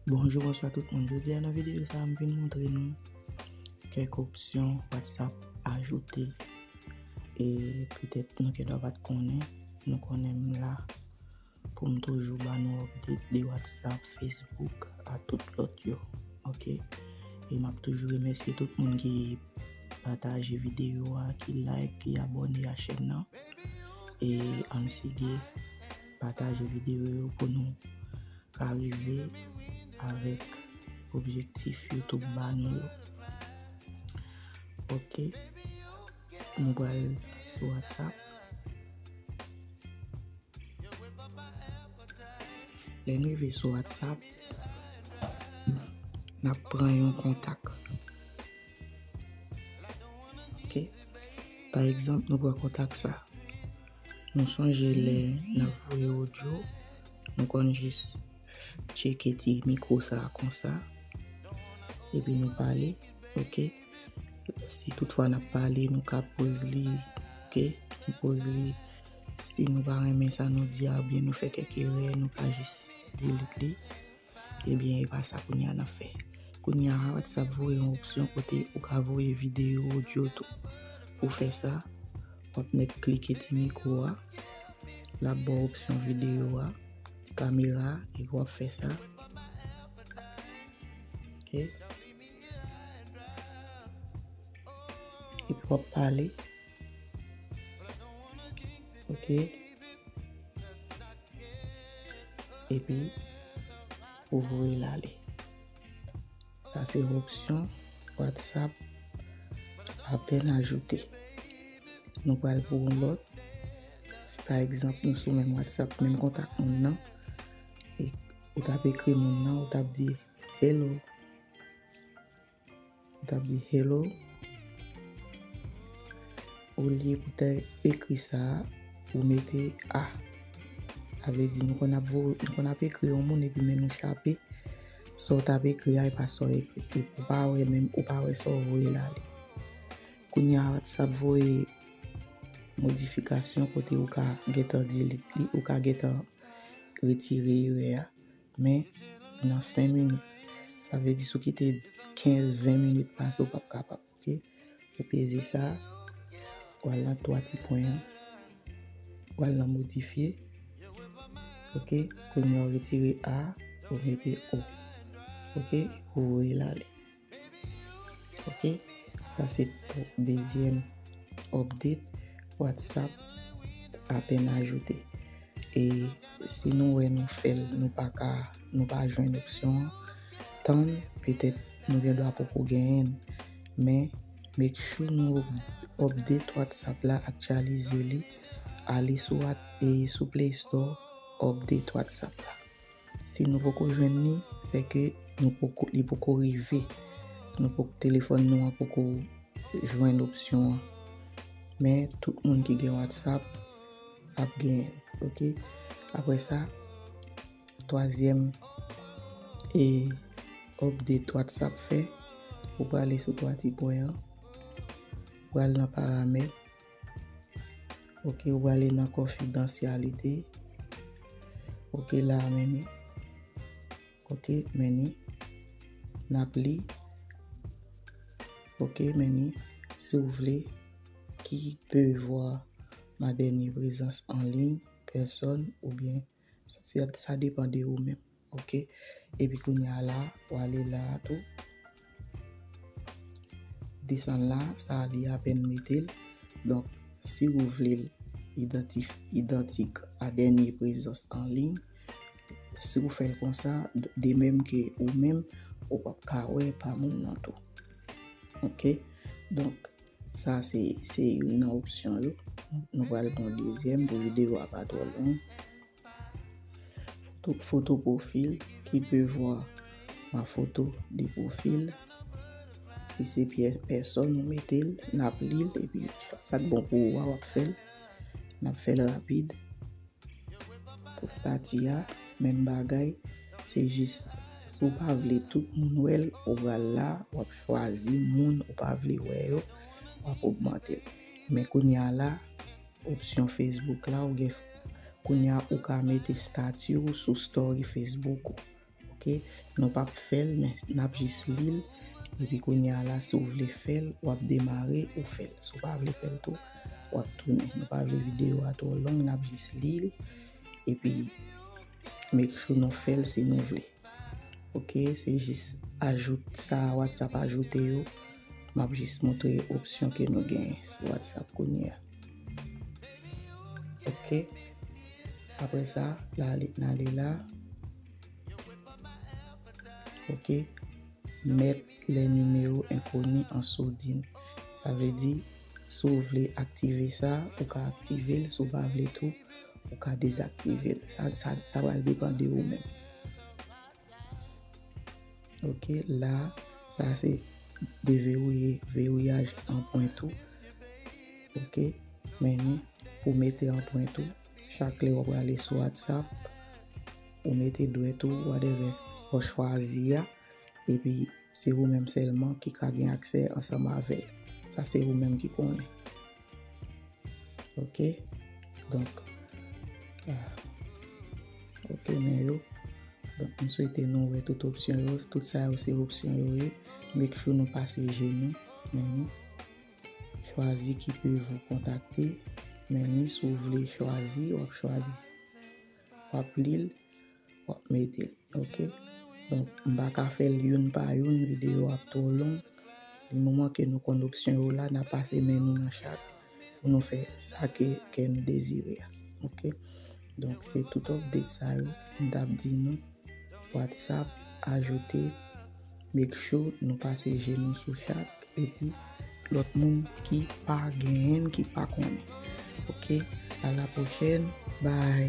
Bonjou bonswa tout moun Jodi a nan videyo sa m vin montre nou kèk opsyon WhatsApp ajoute e petèt nou te dwa pat konnen nou konnen m la pou m toujou ba nou update de WhatsApp, Facebook a tout lòt yo ok e m ap toujou remèsye tout moun ki pataje videyo a, ki like, ki abone a chèn nan e ann sige Pataje video yo pou nou ka rive avèk objektif youtube ba nou yo ok nou pral sou whatsapp lè nou rive sou whatsapp nap pran yon kontak ok pa egzanp nou pran kontak sa Nou sonje lè nan voye audio, nou konn jis cheke ti mikro sa konsa, epi nou pale, ok? Si tout fwa nan pale, nou ka poz li, ok? Nou poz li, si nou pa remen sa nou di a, oubyen nou fè kèk erè, nou ka jis delete li. Ebyen e pa sa kounye a n ap fè. Kounye a WhatsApp voye yon opsyon kote ou ka voye videyo, odyo tou. Pou fè sa, w ap mèt klike ti mikwo a, l ap ba w opsyon videyo a, ti kamera a, epi w ap fè sa. Epi w ap pale. Ok. Epi, ou voye lale. Sa se opsyon WhatsApp apen ajoute. Nou pal pou ou lot. Si pa egzanp nou sou men WhatsApp, men kontak moun nan. E ou tap ekri moun nan, ou tap di hello. Tap di hello. Olye pou te ekri sa, ou mete a. A vle di nou kon ap vo, nou kon ap ekri yon moun epi men nou chape. Sa ou tap ekri a, e pa sa ou ekri. E pou pa wè menm, ou pa wè sa ou voye la li. Kounye a WhatsApp voye modifikasyon kote ou ka gentan delete li, ou ka gentan retire erè a. Men, nan 5 minit. Sa vle di sou kite 15, 20 minit pase ou pap kapab. Ok? Ou peze sa. Ou al nan 3 ti pwen an. Ou al nan modifye. Ok? Kounye ou retire A. Ou mete O. Ok? Ou voye lale. Ok sa se dezyèm update whatsapp apen ajoute e si nou wè nou fèl nou pa ka nou pa jwenn opsyon tann petèt nou gen dwa poko genyen men make sure nou update whatsapp la aktyalize li ale sou whatsapp e sou play store update whatsapp la. Si nou poko jwenn li, se ke nou poko, li poko rive. Nou poko, telefòn nou an poko jwenn opsyon an. Men, tout moun ki gen WhatsApp ap gen, ok. Apre sa, twazyèm e update WhatsApp fè, ou prale sou twa ti pwen an, pral nan paramèt. Ok ou ale nan konfidansyalite. Ok la meni. Ok meni. Nap li. Ok meni. Si ou vle ki pe vwa ma dènye prezans anliy, pèsòn oubyen sa depan de ou menm. Ok. Epi kounye a la, ou ale la a tou. Desann la, sa a li apèn mete l. Donk, si ou vle l idantif, idantik a dènye prezans anliy, si ou fè l konsa, de menm ke ou menm, ou pap ka wè pa moun nan tou. Ok. Donk, sa se, se youn nan opsyon yo. Nou pral pran dezyèm pou videyo a pa twò long. Foto pwofil ki pe vwa ma foto de pwofil. Si se pyè pèsòn ou mete l, n ap li l epi sa k bon pou ou a w ap fè l. N ap fè l rapid. Pou stati a, menm bagay, se jis si w pa vle tout moun wè l, ou pral la, w ap chwazi moun ou pa vle wè yo, w ap ogmante l. Men kounye a la, Opsyon Facebook la ou gen kounya ou ka mete stati ou sou story Facebook ou ok nou pap fèl men nap jis lil epi kounya la si ou vle fèl wap demare ou fèl si ou pa vle fèl tou wap tounen nou pa vle video a twò long nap jis lil epi make sure nou fèl si nou vle. Ok se jis ajout sa whatsapp ajoute yo map jis montre opsyon ke nou gen sou whatsapp kounye a ok apre sa la ale nan ale la ok met le numero enkoni an sourdin sa vle di Si w vle aktive sa, ou ka aktive l. Si w pa vle tou, ou ka dezaktive l. Sa sa sa pral depan de ou menm. Ok, la sa se deverouye, verouyaj an pwen tou. Ok, men nou pou mete an pwen tou, chak lè ou prale sou WhatsApp, ou mete dwèt ou whatever ou chwazi a. epi se ou menm sèlman ki ka gen aksè ansanm avè l. Sa se ou menm ki konnen. Ok? Donk, ok men yo. Donk, m swete nou wè tout opsyon yo. Tout sa yo se opsyon yo ye. Make sure nou pase je nou. Meni. Chwazi ki pe vou kontakte. Meni, si w vle chwazi, w ap chwazi. wap lil wap metel ok donk m paka fèl youn pa youn video yo ap twò long di moman ke nou konn opsyon yo la na pase men nou nan chak pou nou fè sa ke kè nou dezire a ok donk se tout update sa yo m tap di nou whatsapp ajoute make sure nou pase je nou sou chak Epi lot moun ki pa genyen ki pa konnen ok a la prochèn bye.